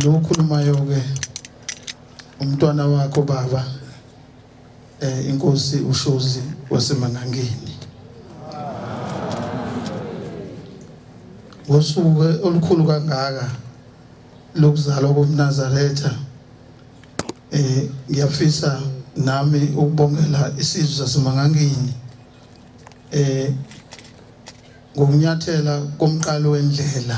Lo okhulumayo-ke umntwana wakho baba eh inkosi uShozi waseMangangeni. Ngosuku olukhulu kangaka lokuzalwa koMnazaretha eh ngiyafisa nami ukubongela isizwe saseMangangeni eh ngokunyathela komqalo wendlela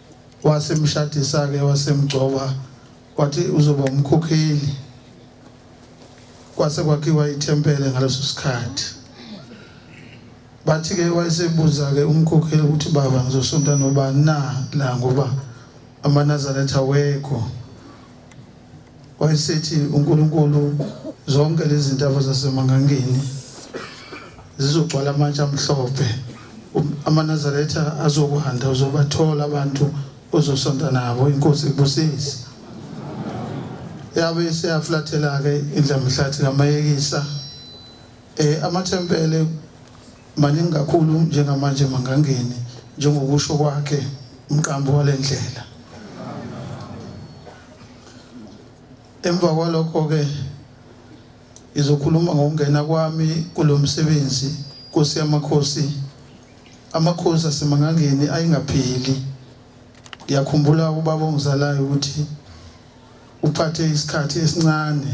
wasemshadisa-ke wasemgcoba wathi uzoba umkhokheli kwase kwakhiwa ithempele ngaleso sikhathi bathi-ke wayesebuza-ke umkhokheli ukuthi baba ngizosonta nobani na la ngoba amanazaretha wekho Wayesithi uNkulunkulu zonke lezi ntaba zasemangangeni zizogcwala amatshe amhlophe um, amanazaretha azokuhanda uzobathola abantu ozosonta nabo inkosi ibusise yabe seyaflathela-ke indlamhlathi kamayekisa um amathempele Maningi kakhulu njengamanje mangangeni njengokusho kwakhe umqambi walendlela. Emva kwalokho ke ngizokhuluma ngokungena kwami kulomsebenzi Nkosi yamakhosi amakhosi asemangangeni ayingapheli ngiyakhumbula ubaba ongizalayo ukuthi uphathe isikhathi esincane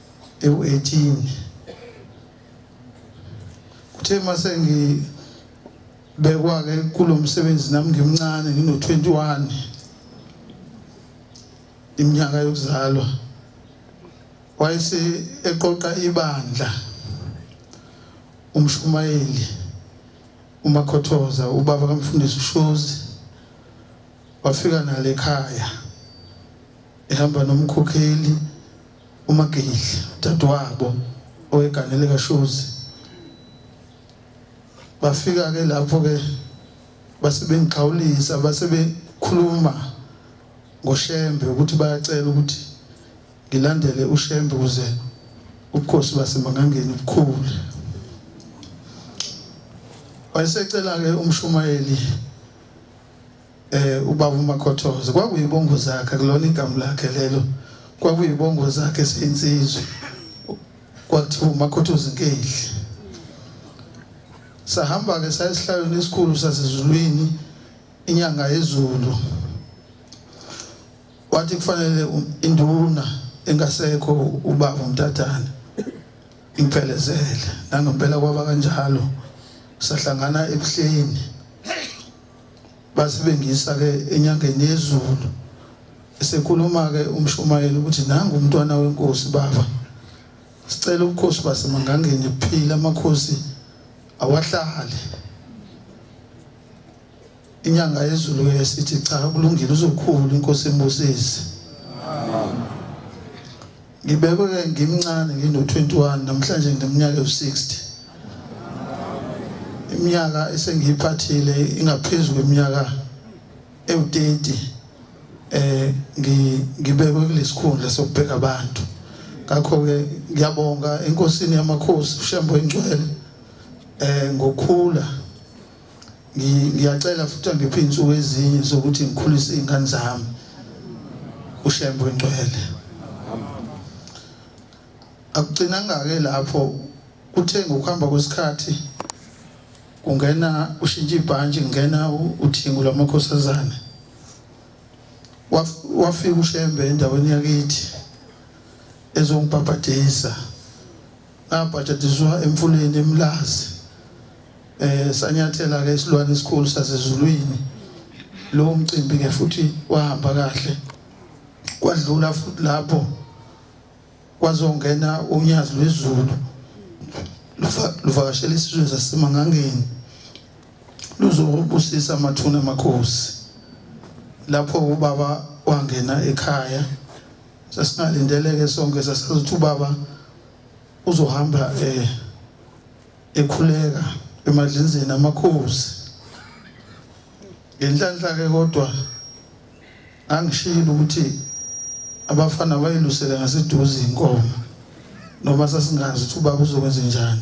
ewu-18 kuthe masengibekwa-ke kulo msebenzi nami ngimncane ngino-21 iminyaka yokuzalwa wayese eqoqa ibandla umshumayeli umakhothoza ubaba kamfundisi ushozi wafika nale ekhaya ehamba nomkhokheli UMagidla, udadewabo owegane likaShozi, bafika-ke lapho-ke base bengixhawulisa, base bekhuluma ngoShembe ukuthi bayacela ukuthi ngilandele uShembe ukuze ubukhosi baseMangangeni bukhule. Wayesecela-ke umshumayeli Eh ubaba uMakhothoze kwakuyibongo zakhe kulona igama lakhe lelo. Kwakuyibongo zakhe seyinsizwe. Kwathiwa uMakhothoze inkehli. Sahamba ke sayesihlalweni esikhulu sasezulwini inyanga yezulu. Wathi kufanele induna engasekho ubaba uMtatana imphelezele nangempela kwaba kanjalo sahlangana ebuhleni Basibengisa ke enyangeni yezulu esekhuluma ke umshumayeli ukuthi nangu umntwana wenkosi baba sicela ubukhosi basemangangeni phila amakhosi awahlale inyanga yezulu ke sithi cha kulungile uzokhulu inkosi embusisi amen Ngibekwe ngimncane ngino-21 namhlanje ngimnyaka ewu-60. Iminyaka esengiyiphathile ingaphezu kweminyaka ewu-30 eh ngibekwe kulesikhundla sokubheka abantu. Ngakho-ke ngiyabonga enkosini yamakhosi uShembe oyingcwele eh ngokhula ngiyacela futhi angiphe iy'nsuku ezinye zokuthi ngikhulise iy'ngane zami ushembe ongcwele akugcinanga-ke lapho kuthe ngokuhamba kwesikhathi kungena ushintsha ibhantshi kungena uthingo lwamakhosazane wafika ushembe endaweni yakithi ezongibhabhadisa ngabhajadiswa emfuleni emlazi eh sanyathela ke isilwane esikhulu sasezulwini lowo mcimbi ke futhi wahamba kahle kwadlula futhi lapho kwazongena unyazi lwezulu luvakashela isizwe sasemangangeni luzobusisa amathuna amakhosi lapho ubaba wangena ekhaya Sasingalindele-ke sonke sasazi ukuthi ubaba uzohamba eh ekhuleka emadlinzeni amakhosi ngenhlanhla-ke kodwa angishilo ukuthi abafana bayilusele ngaseduze inkomo noma sasingazi ukuthi ubaba uzokwenze njani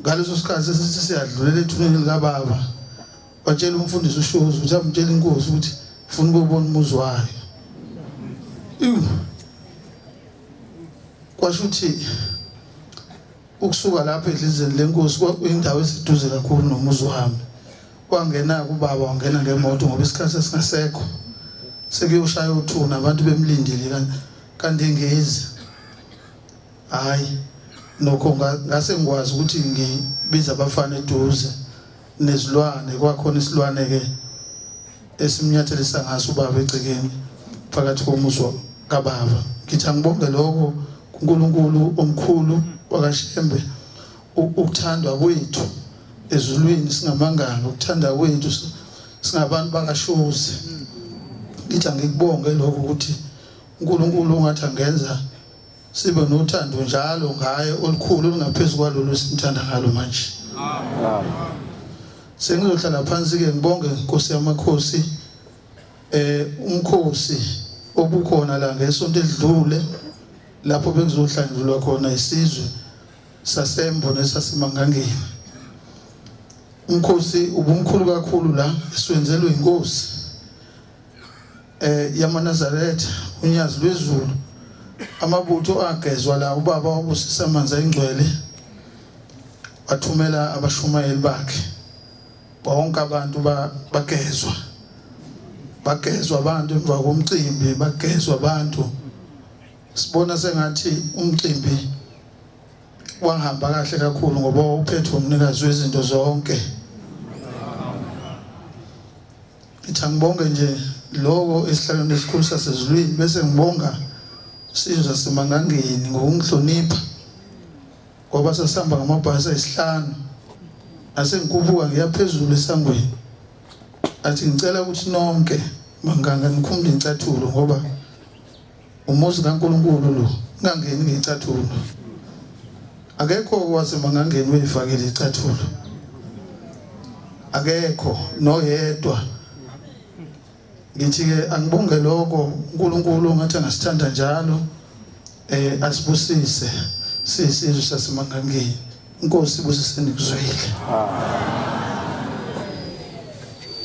ngaleso sikhathi sesithi siyadlulela ethuneni likababa watshela umfundisi ushozi ukuthi amtshele inkosi ukuthi funa ukubona umuzi wayo kwasho ukuthi ukusuka lapho edlizeni lenkosi kwakuyindawo esiduze kakhulu nomuzi wami kwangena kubaba wangena ngemoto ngoba isikhathi esingasekho sekuyoshaya uthuna abantu bemlindile kanti engezi Hayi nokho ngase ngikwazi ukuthi ngibiza abafana eduze nezilwane kwakhona isilwane ke esimnyathelisa ngaso ubaba egcekeni phakathi komuzi kababa ngithi angibonge lokho kuNkulunkulu omkhulu wakaShembe ukuthandwa kwethu ezulwini singamanganga ukuthanda kwethu singabantu bakashozi ngithi angikubonge lokho ukuthi uNkulunkulu ungathi angenza Sibe nothando njalo ngaye olukhulu olungaphezu kwalolu esimthanda ngalo manje. Amen. Sengizohlala phansi ke ngibonge Nkosi yamakhosi eh umkhosi obukhona la ngesonto edlule lapho bekuzohlangulwa khona isizwe sasembo nesasemangangeni umkhosi ubumkhulu kakhulu la esiwenzelwe inkosi eh, yamaNazaretha unyazi lwezulu amabutho agezwa la ubaba wabusisa amanzi ayingcwele wathumela abashumayeli bakhe bonke abantu bagezwa bagezwa abantu emva komcimbi bagezwa abantu sibona sengathi umcimbi wahamba kahle kakhulu ngoba uphethe umnikazi wezinto zonke ngithi angibonge nje loko esihlalweni esikhulu sasezulwini bese ngibonga sizwe simangangeni ngokungihlonipha ngoba sasihamba ngamabhasi ayisihlanu nasengikhuphuka ngiya phezulu esangweni athi ngicela ukuthi nonke manganga nikhumule incathulo ngoba Umuzi kaNkulunkulu lo, ungangeni ngecathulo. Akekho owazi mangangeni uyifakile icathulo. Akekho noyedwa. Ngithi ke angibonge lokho uNkulunkulu ngathi angasithanda njalo eh asibusise sisizwe sasimangangeni. Inkosi ibusise nikuzwile. Amen.